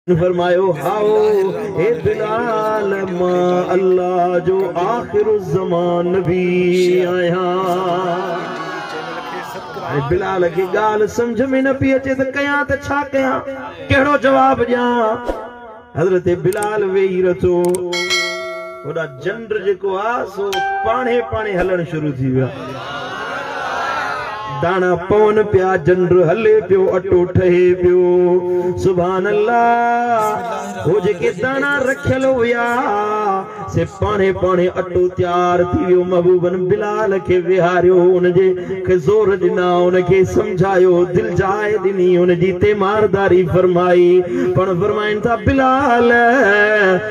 فرمايو، هائو، اي بلال، مان الله جو آخر الزمان نبي آهيان. ۽ بلال کي ڳالهه سمجهه ۾ نه پئي اچي ته ڪيان ته ڇا ڪيان؟ ڪهڙو جواب ڏيان؟ حضرت بلال ويهي رٿو. هوڏا جنڊ جيڪو آ سو پاڻهي پاڻهي هلڻ شروع ٿي ويو آ. داڻا پون پيا جنڊ هلي پيو اٽو ٺهي پيو. سبحان الله هو جيڪي داڻا رکيل هيا سي پاڻهي پاڻهي اٽو تيار ٿي ويو محبوبن بلال کي ويهاريو ان جي کي زور ڏنا ان کي سمجهايو دل جاء ڏني ان جي تيمارداري فرمائي پاڻ فرمائن ٿا بلال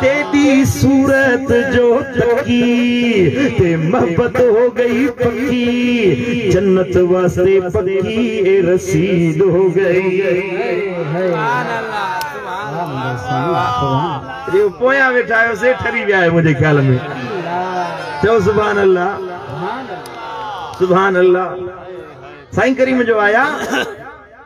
تيڏي صورت جو تڪي تي محبت هو گئي پڪي جنت واسطي پڪي اي رسيد هو گئي سبحان الله جو پويان ويٺا آهيو سي ٺري ويا آهيو منهنجي خيال ۾ چئو سبحان الله سبحان الله سائين ڪريم جو آيا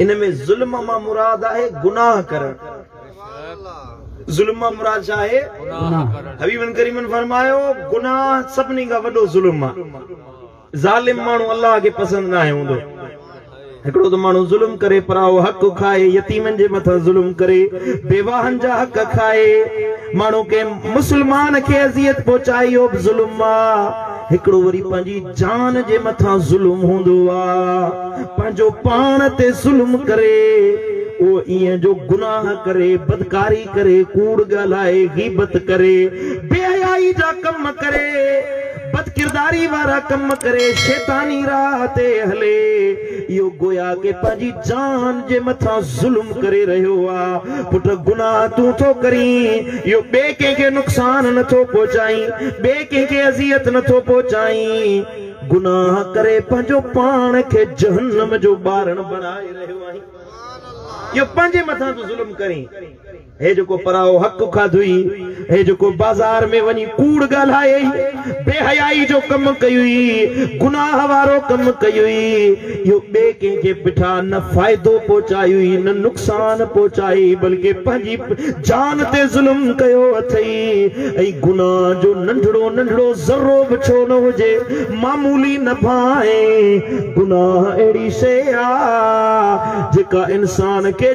ان ۾ ظلم مان مراد آهي گناهه ڪرڻ. ظلم مان مراد ڇا آهي؟ حبيبن ڪريمن فرمايو، گناهه سڀني کان وڏو ظلم آ. ظالم ماڻهو الله کي پسند ناهي هوندو. هڪڙو ته ماڻهو ظلم ڪري، پرائو حق کائي، يتيمن جي مٿان ظلم ڪري، بيواهن جا حق کائي، ماڻهو ڪنهن مسلمان کي اذيت پهچائي اهو به ظلم آ. هڪڙو وري پنهنجي جان جي مٿان ظلم هوندو آ پنهنجو پاڻ تي ظلم ڪري اهو ايئن جو گناهه ڪري بدڪاري ڪري ڪوڙ ڳالهائي غيبت ڪري بي حيائي جا ڪم ڪري بدڪرداري وارا ڪم ڪري شيطاني راهه تي هلي. اهو گويا ڪي پنهنجي جان جي مٿان ظلم ڪري رهيو آ. پٽ گناهه تون ٿو ڪرين، اهو ٻئي ڪنهن کي نقصان نه ٿو پهچائين، ٻئي ڪنهن کي اذيت نه ٿو پهچائين. گناهه ڪري پنهنجو پاڻ کي جهنم جو ٻارڻ بڻائي رهيو آهين. اهو پنهنجي مٿان ٿو ظلم ڪرين. هي جيڪو پراهو حق کاڌوئي، هي جيڪو بازار ۾ وڃي ڪوڙ ڳالهائي، بي حيائي جو ڪم ڪيوئي، گناهه وارو ڪم ڪيوئي، اهو ٻئي ڪنهن کي بٺا نه فائدو پهچايوئي نه نقصان پهچائي، بلڪه پنهنجي جان تي ظلم ڪيو اٿئي ۽ گناهه جو ننڍڙو ننڍڙو ذرو به ڇو نه هجي معمولي نه ڀانء گناهه اهڙي شيء آ جيڪا انسان کي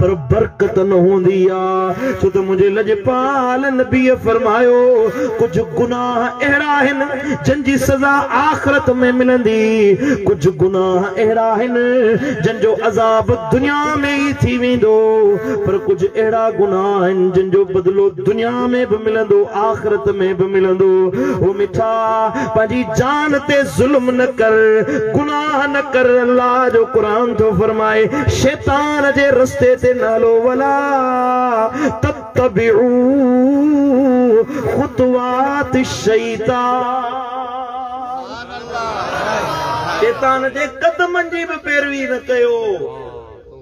پر برڪت نه هوندي آ، ڇو ته منهنجي لڄپال نبيء فرمايو، ڪجهه گناهه اهڙا آهن جن جي سزا آخرت ۾ ملندي، ڪجهه گناهه اهڙا آهن جن جو عذاب دنيا ۾ ئي ٿي ويندو، پر ڪجهه اهڙا گناهه آهن جن جو بدلو دنيا ۾ به ملندو، آخرت ۾ به ملندو. او مٺا! پنهنجي جان تي ظلم نه ڪر، گناهه نه ڪر، الله جو قرآن ٿو فرمائي شيطان جي رستي تي نه هلو ولا تتبعو خطوات الشيطان شيطان جي قدمن جي به پيروي نه ڪيو.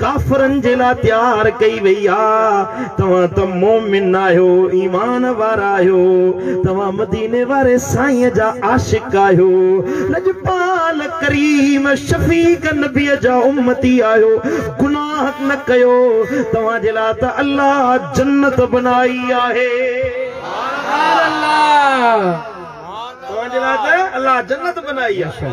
ڪافرن جي لاء تيار ڪئي وئي آ، توهان ته مؤمن آهيو، ايمان وارا آهيو، توهان مديني واري سائين جا عاشق آهيو، لڄپال ڪريم شفيق نبي جا امتي آهيو، گناهه نه ڪيو، توهان جي لاء ته الله جنت بنائي آهي. سبحان الله توهان جي لاء ته الله جنت بنائي آهي.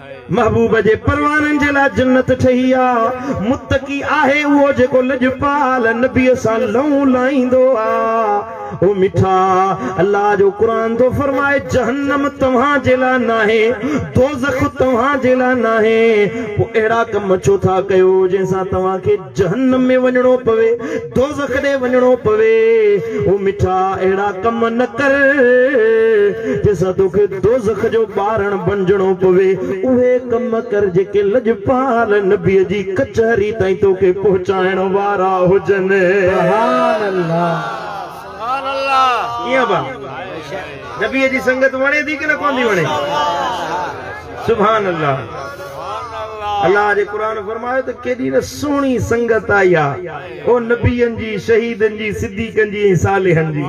محبوب جي پروانن جي لاء جنت ٺهي آ. متقي آهي اهو جيڪو لڄپال نبيء سان لئون لائيندو آ. او مٺا! الله جو قرآن ٿو فرمائي، جهنم توهان جي لاء ناهي، دوزخ توهان جي لاء ناهي، پوء اهڙا ڪم ڇو ٿا ڪيو جنهن سان توهان کي جهنم ۾ وڃڻو پوي، دوزخ ڏي وڃڻو پوي، او مٺا اهڙا ڪم نه ڪر جنهن سان توکي دوزخ جو ٻارڻ بڻجڻو پوي، اهي ڪم ڪر جيڪي لڄپال نبيء جي ڪچهري تائين توکي پهچائڻ وارا هجن. سبحان الله. ڪيئن ڀا نبيء جي سنگت وڻي ٿي ڪي نه ڪونه ٿي وڻي؟ سبحان الله الله جي قرآن فرمايو ته ڪيڏي نه سهڻي سنگت آئي آ او نبين جي شهيدن جي صديقن جي ۽ صالحن جي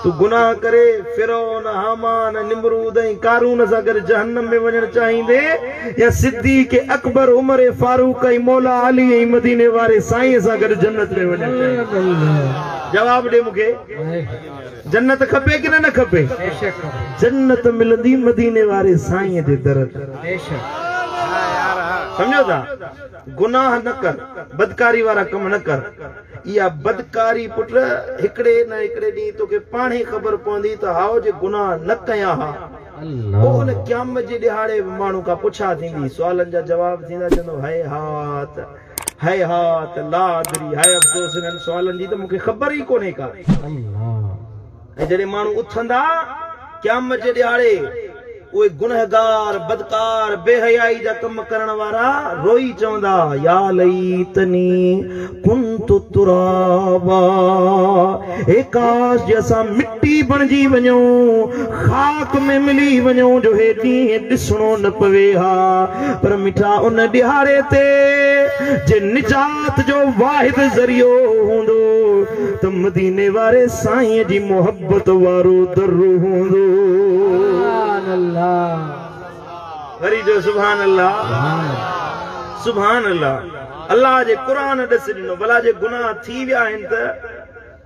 تون گناهه ڪري فرعون هامان ۽ نمرود ۽ قارون سان گڏ جهنم ۾ وڃڻ چاهيندين يا صديق اڪبر عمر فاروق ۽ مولا علي ۽ مديني واري سائين سان گڏ جنت ۾ وڃڻ چاهيندين جواب ڏي مون کي جنت کپي ڪنه نه کپي جنت ملندي مديني واري سائين جي در تي سمجهو ٿا گناهه نه ڪر بدڪاري وارا ڪم نه ڪر اها بدڪاري پٽ هڪڙي نه هڪڙي ڏينهن توکي پاڻ ئي خبر پوندي ته هائو جي گناهه نه ڪيا ها پوء ان قيامت جي ڏهاڙي به ماڻهن کان پڇا ٿيندي سوالن جا جواب ٿيندا چوندو هاء هاء ته هيهات، لاادري، هاء افسوس هنن سوالن جي ته مون کي خبر ئي ڪونهي ڪا. ۽ جڏهن ماڻهو اٿندا قيامت جي ڏهاڙي، اهي گنهگار، بدڪار، بي حيائي جا ڪم ڪرڻ وارا روئي چوندا، يا ليتني ڪنت ترابا، هي ڪاش جي اسان مٽي بڻجي وڃون، خاڪ ۾ ملي وڃون جو هي ڏينهن ڏسڻو نه پوي ها پر مٺا ان ڏهاڙي تي جي نجات جو واحد ذريعو هوندو ته مديني واري سائين جي محبت وارو در هوندو. سبحان الله. وري چئو سبحان الله. سبحان الله. الله جي قرآن ڏس ڏنو ڀلا جي گناهه ٿي ويا آهن ته.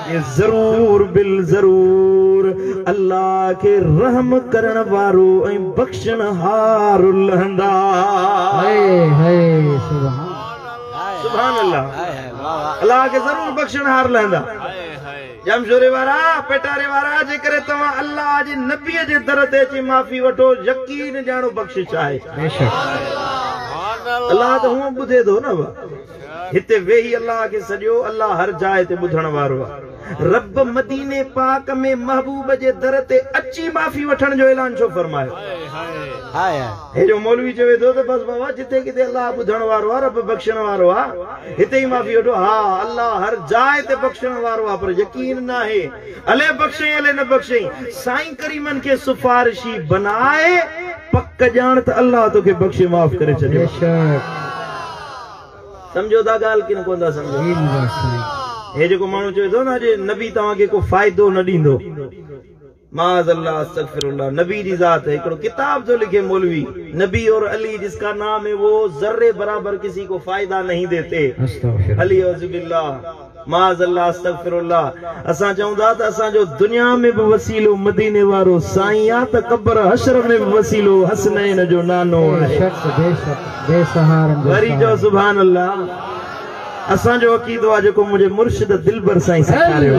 ۽ ضرور بالضرور الله کي رحم ڪرڻ وارو ۽ بخشڻهار لهندا. هئي هئي سبحان سبحان الله الله کي ضرور بخشڻهار لهندا. ڄامشوري وارا پيٽاري وارا جيڪڏهن توهان الله جي نبي جي در تي اچي معافي وٺو يقين ڄاڻو بخشش آهي. بيشڪ. الله ته هونئن ٻڌي ٿو نه. هتي ويهي الله کي سڏيو، الله هر جاء تي ٻڌڻ وارو آ. رب مديني پاڪ ۾ محبوب جي در تي اچي معافي وٺڻ جو اعلان ڇو فرمايو؟ هي جو مولوي چوي ٿو ته بس بابا جتي ڪٿي الله ٻڌڻ وارو آ، رب بخشڻ وارو آ، هتي ئي معافي وٺو. ها الله هر جاء تي بخشڻ وارو آ پر يقين ناهي الي بخشين الي نه بخشين. سائين ڪريمن کي سفارشي بناء، پڪ ڄاڻ ته الله توکي بخشي معاف ڪري ڇڏيو. سمجهو ٿا ڳالهه ڪن ڪون ٿا سمجهو. جي مبارڪ سائين هي جيڪو ماڻهو چوي ٿو نه اڄ نبي توهان کي ڪو فائدو نه ڏيندو معاذ الله استغفر الله نبي جي ذات هي هڪڙو ڪتاب ٿو لکي مولوي نبي اور علي جس ڪا نام هي وو ذري برابر ڪسي ڪو فائدا نهين ديتي استغفر الله علي اعوذ بالله. معاذ الله استغفر الله اسان چئون ٿا ته اسان جو دنيا ۾ به وسيلو مديني وارو سائين آ ته قبر حشر ۾ به وسيلو حسنين جو نانو آهي وري چئو سبحان الله اسان جو عقيدو آ جيڪو منهنجي مرشد دلبر سائين سيکاريو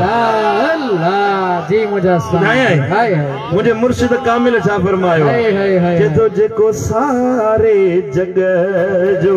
منهنجي مرشد ڪامل ڇا فرمايو آ چئي ٿو جيڪو ساري جڳ جو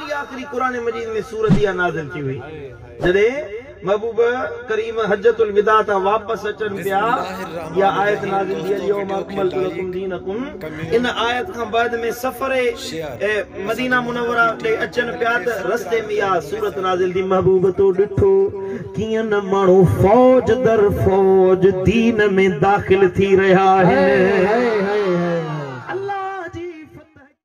جي آخري قرآن مجيد ۾ سورت اها نازل ٿي هئي جڏهن محبوب ڪريم حجة الوداع تان واپس اچن پيا اها آيت نازل ٿي اليوم اڪملت لڪم دينڪم ان آيت کان بعد ۾ سفر مدينه منوره ڏي اچن پيا ته رستي ۾ اها سورت نازل ٿي محبوب تو ڏٺو ڪيئن نه ماڻهو فوج در فوج دين ۾ داخل ٿي رهيا آهن.